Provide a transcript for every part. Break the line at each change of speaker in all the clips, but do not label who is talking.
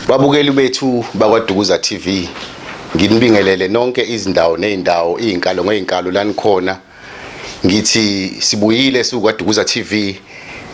Babukeli bethu bakwaDukuza TV nginibingelele nonke izindawo nezindawo izinkalo ngezinkalo lanikhona ngithi sibuyile siwukwaDukuza TV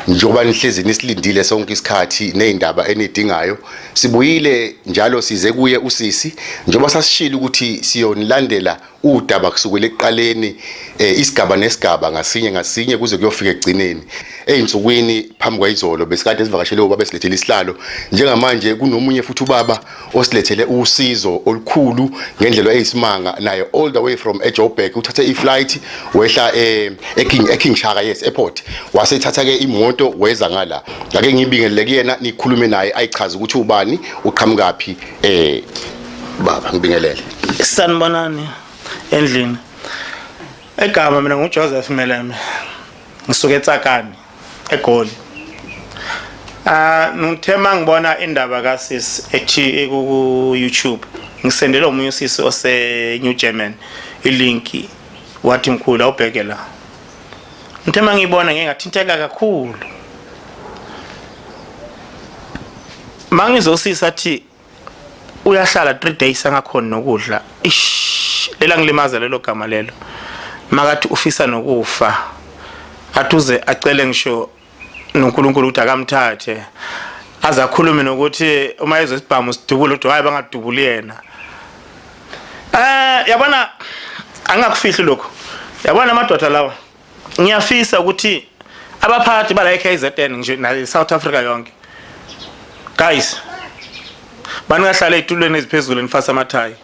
njengoba nihlezi nisilindile sonke isikhathi nezindaba enidingayo sibuyile njalo size kuye usisi njengoba sasishilo ukuthi siyonilandela udaba kusukela ekuqaleni eh, isigaba nesigaba ngasinye ngasinye kuze kuyofika ekugcineni ezinsukwini phambi kwayizolo besikade sivakashele ubaba esilethele isihlalo njengamanje kunomunye futhi ubaba osilethele usizo olukhulu ngendlela eyisimanga naye all the way from eJoburg uthathe iflight wehla eh, eKing eKing Shaka yes airport wasethatha ke imoto weza ngala ake ngibingelele kuyena nikhulume naye ayichaza ukuthi ubani uqhamukaphi eh baba ngibingelele sanibonani
endlini egama mina ngujoseph meleme ngisuke etsakani egoli Ah ngithe mangibona indaba kasis ethi ku YouTube ngisendele omunye usisi ose New German ilink wathi mkhulu awubheke la ngithe mangibona ngeke ngathinteka kakhulu mangizosisa athi uyahlala 3 days angakhona nokudla ish lela ngilimaza lelo gama lelo makathi ufisa nokufa athuze acele ngisho noNkulunkulu ukuthi akamthathe aze akhulume nokuthi uma ezwe isibhamu sidubule ukuthi hayi bangadubuli yena eh yabona angakufihli lokho yabona amadoda lawa ngiyafisa ukuthi abaphathi bala eKZN nje na South Africa yonke guys baningahlala ezitulweni eziphezulu nifasa amathayi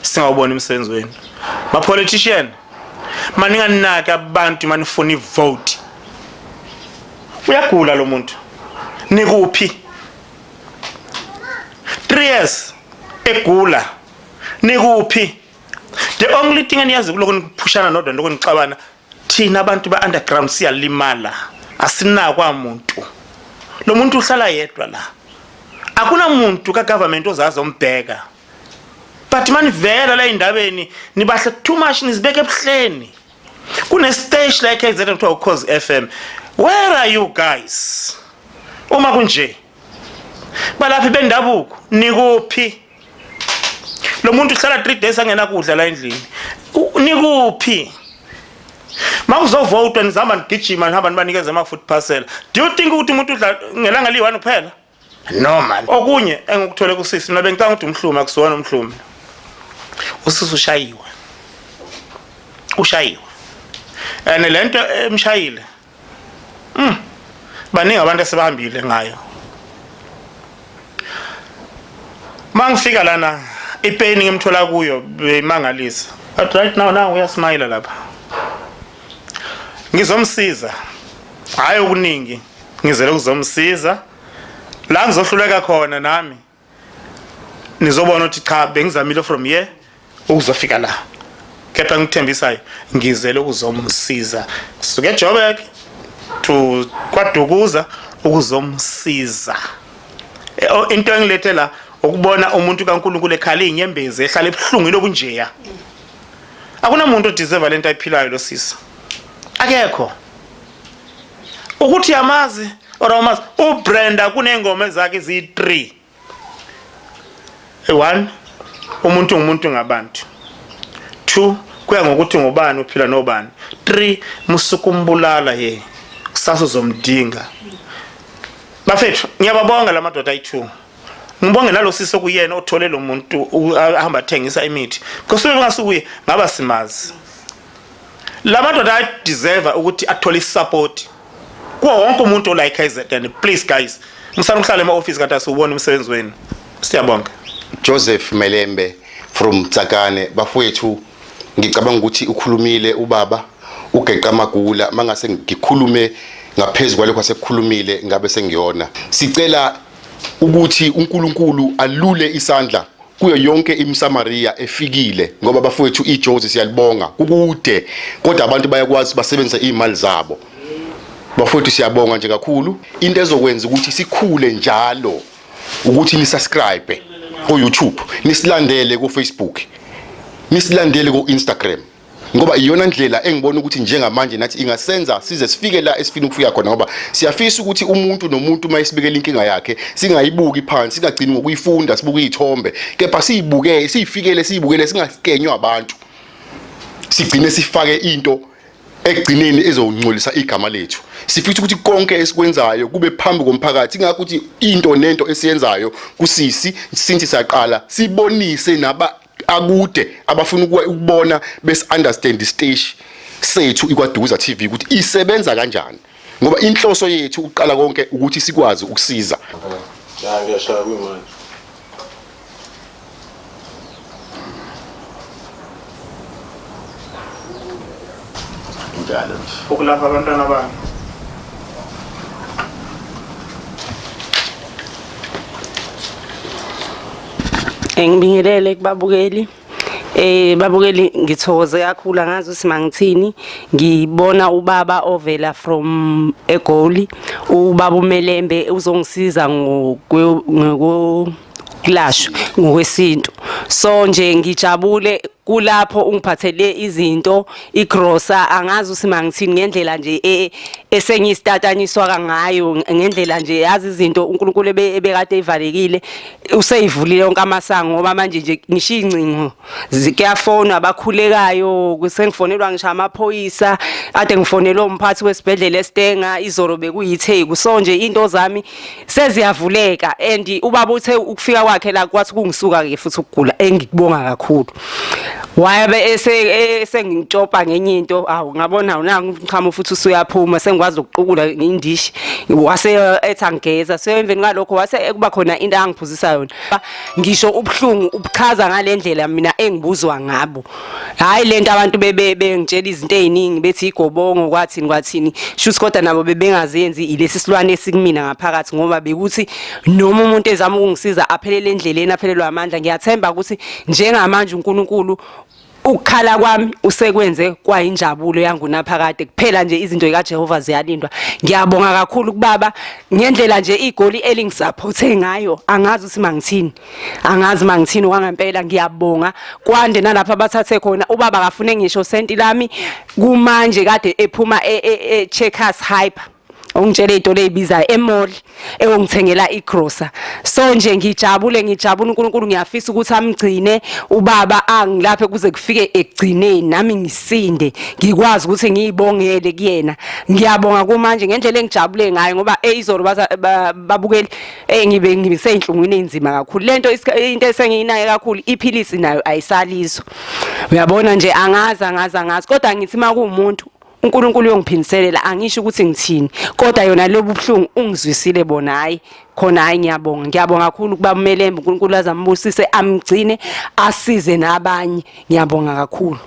singawubona umsebenzi wenu ma politician maninganaka abantu manifuna ivote uyagula lo muntu nikuphi 3 years egula nikuphi the only thing eniyazi kuloko nikuphushana nodwa lokho nixabana thina abantu ba underground siyalimala asinakwa muntu lo muntu uhlala yedwa la akunamuntu ka government ozazi ombheka but manivela la indabeni nibahle too much nizibeke ebuhleni kune stage like KZN kuthiwa ukhozi FM where are you guys uma kunje balaphi bendabuko nikuphi lo muntu uhlala 3 days angenakudla la endlini nikuphi makuzovotwa nizihamba nigijima nihamba nibanikeze ama-food parcel do you think ukuthi umuntu udla ngelanga liyi-one kuphela no man okunye engikuthole kusisi mina bengicanga ukuthi umhlumi akusiwona umhlumi usisi ushayiwe ushayiwe and le nto emshayile Mm. Baningi abantu esebahambile ngayo. Mangifika lana ipain ngimthola kuyo bemangalisa. But right now now uyasmile lapha. Ngizomsiza. Hayi okuningi. Ngizele ukuzomsiza. La ngizohluleka khona nami. nizobona ukuthi cha bengizamile from here ukuzofika la kepha ngikuthembisayo ngizele ukuzomsiza suke ejoburg to kwadukuza ukuzomsiza e, oh, into engilethe la ukubona umuntu kaNkuluNkulu ekhala inyembezi ehlala ebuhlungwini obunjeya akunamuntu odeserve lento ayiphilayo lo sisi akekho ukuthi yamazi or awumazi ubrenda kuney'ngoma zakhe ziyi-three one umuntu ngumuntu ngabantu two kuya ngokuthi ngubani uphila nobani three musuku umbulala ye kusasa uzomdinga bafethu ngiyababonga la madoda ayi-two ngibonge nalo sisi okuyena othole lo muntu ahamba athengisa imithi because bengasukuye ngaba simazi Lamadoda I deserve ukuthi athole support kuwo wonke umuntu ola eKZN please guys ngisana ukuhlala ema office kanti asiwubona umsebenzi wenu siyabonga Joseph
Melembe from Tsakane bafowethu ngicabanga ukuthi ukhulumile ubaba ugeqa amagula mangase ngikhulume ngaphezulu kwalokho asekukhulumile ngabe sengiyona sicela ukuthi uNkulunkulu alule isandla kuyo yonke imSamaria efikile ngoba bafowethu iJozi siyalibonga kukude kodwa abantu bayakwazi basebenzisa imali zabo bafowethu siyabonga nje kakhulu into ezokwenza ukuthi sikhule njalo ukuthi ni subscribe ko YouTube nisilandele ko Facebook nisilandele ko Instagram ngoba iyona ndlela engibona ukuthi njengamanje nathi ingasenza size sifike la esifuna ukufika khona ngoba siyafisa ukuthi umuntu nomuntu uma esibekela inkinga yakhe singayibuki phansi singagcini ngokuyifunda sibuke iy'thombe kepha siyibuke siyifikele siyibukele singasikenywa abantu sigcine sifake into ekugcineni ezongcolisa igama lethu sifisa ukuthi konke esikwenzayo kube phambi komphakathi ingakho ukuthi into nento esiyenzayo kusisi sinthi saqala sibonise naba akude abafuna ukubona bes understand isiteshi sethu ikwadukuza TV ukuthi isebenza kanjani ngoba inhloso yethu ukuqala konke ukuthi sikwazi ukusiza cha ngiyashaya kwimanje injalo nje ukulapha abantwana
bami
ngibingelele kubabukeli eh babukeli ngithokoze kakhulu angazi ukuthi mangithini ngibona ubaba ovela from egoli ubaba umelembe uzongisiza ngokulashwa ngokwesintu so nje ngijabule kulapho ungiphathele izinto igrosa angazi usima ngithini ngendlela nje e, esengiyistatanyiswa ngayo ngendlela nje yazi izinto uNkulunkulu ebekade ivalekile useyivulile yonke amasango ngoba manje nje ngisho incingo zikuyafona abakhulekayo kusengifonelwa ngisho amaphoyisa ade ngifonelwa umphathi wesibhedlela eStenga izolo bekuyithe kuso nje into zami seziyavuleka and ubaba uthe ukufika kwakhe la kwathi kungisuka ke futhi ukugula engikubonga kakhulu wayabe esengingitshopa e, ngenye into awu ngabona unangichamo futhi usuyaphuma sengikwazi ukuqukula ngindishi wase ethi angigeza so emveni kwalokho wase ekuba khona into angiphuzisayo yona ngisho ubuhlungu ubuchaza ngalendlela mina engibuzwa ngabo hayi lento abantu bebe bengitshela izinto eziningi bethi igobongo kwathini kwathini shuthi kodwa nabo bebengazenzi ilesi silwane esikumina ngaphakathi ngoba bekuthi noma umuntu ezama ukungisiza aphelele endleleni aphelelwa amandla ngiyathemba ukuthi njengamanje uNkulunkulu ukukhala kwami usekwenze kwayinjabulo yangunaphakade kuphela nje izinto zikaJehova ziyalindwa ngiyabonga kakhulu kubaba ngendlela nje igoli elingisaphothe ngayo angazi ukuthi mangithini angazi uma ngithini wangempela ngiyabonga kwande nalapha bathathe khona ubaba akafune ngisho senti lami kumanje kade ephuma e-checkers e, e, hyper ongitshele into leyibizayo emall ewongithengela igrocer so nje ngijabule ngijabula uNkulunkulu ngiyafisa ukuthi amgcine ubaba angilaphe kuze kufike ekugcineni nami ngisinde ngikwazi ukuthi ngiyibongele kuyena ngiyabonga kumanje ngendlela engijabule ngayo ngoba eyizolo babukeli Eh ngibe ngiseyinhlungwini enzima kakhulu. Lento into esengiyinayo kakhulu iphilisi nayo ayisalizwa. Uyabona nje angazi angazi angazi kodwa ngithi makuwumuntu uNkulunkulu uyongiphindiselela angisho ukuthi ngithini kodwa yona lobu buhlungu ungizwisile bona hayi khona hayi ngiyabonga ngiyabonga kakhulu kuba umelembe uNkulunkulu azambusise amgcine asize nabanye ngiyabonga kakhulu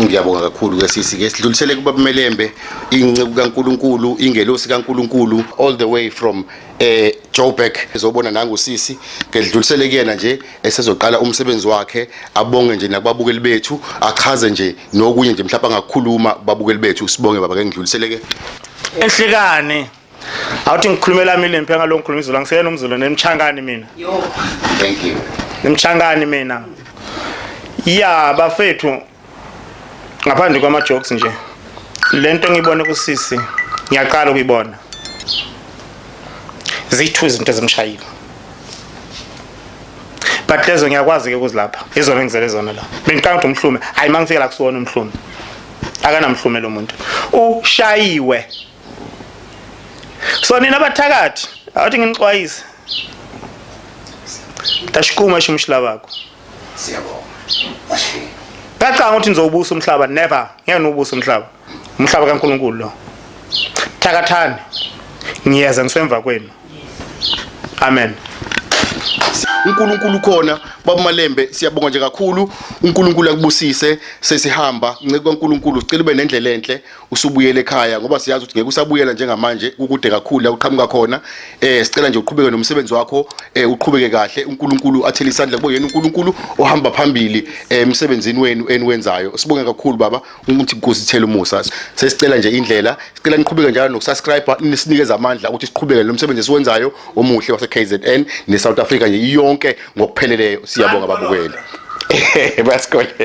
Ngiyabonga kakhulu
ke sisi ke sidlulisele kubabumelembe inceku kaNkuluNkulu ingelosi kaNkuluNkulu all the way from eh Joburg ezobona nangu sisi ngedlulisele kuyena nje esezoqala umsebenzi wakhe abonge nje nakubabukeli bethu achaze nje nokunye nje mhlawumbe angakhuluma babukeli bethu sibonge baba ke ngidlulisele ke ehlekani
awuthi ngikhulumela mina lempi ngalo ngikhuluma izulu angiseyena umzulu nemchangani mina thank
you nemchangani mina
ya bafethu ngaphandle kwama jokes nje lento ngibone kusisi ngiyaqala ukuyibona zithu izinto ezimshayile but lezo ngiyakwazi ke ukuzilapha izona engizele zona la bengiqanga ukuthi umhlume hayi mangifika la kusiwona umhlume akanamhlume lo muntu ushayiwe so nina bathakathi awuthi nginixwayise tashikuma sho umshila bakho
siyabonga
kacanga ukuthi nizowubusa umhlaba never ngeke niwubusa umhlaba umhlaba kaNkuluNkulu lo thakathani ngiyeza ngisemva kwenu amen
uNkulunkulu khona babumalembe siyabonga nje kakhulu uNkulunkulu akubusise sesihamba ncike kwaNkulunkulu sicela ube nendlela enhle usubuyele ekhaya ngoba siyazi ukuthi ngeke usabuyela njengamanje kukude kakhulu la uqhamuka khona eh sicela nje uqhubeke nomsebenzi wakho eh uqhubeke kahle uNkulunkulu athele isandla kubo yena uNkulunkulu ohamba phambili eh, emsebenzini wenu eniwenzayo sibonge kakhulu baba ukuthi inkosi ithele umusa sesicela nje indlela sicela niqhubeke njalo nokusubscribe nisinikeza amandla ukuthi siqhubeke lo msebenzi esiwenzayo omuhle wase KZN ne South Africa nje yonke ngokupheleleyo siyabonga babukeli bayasikholeka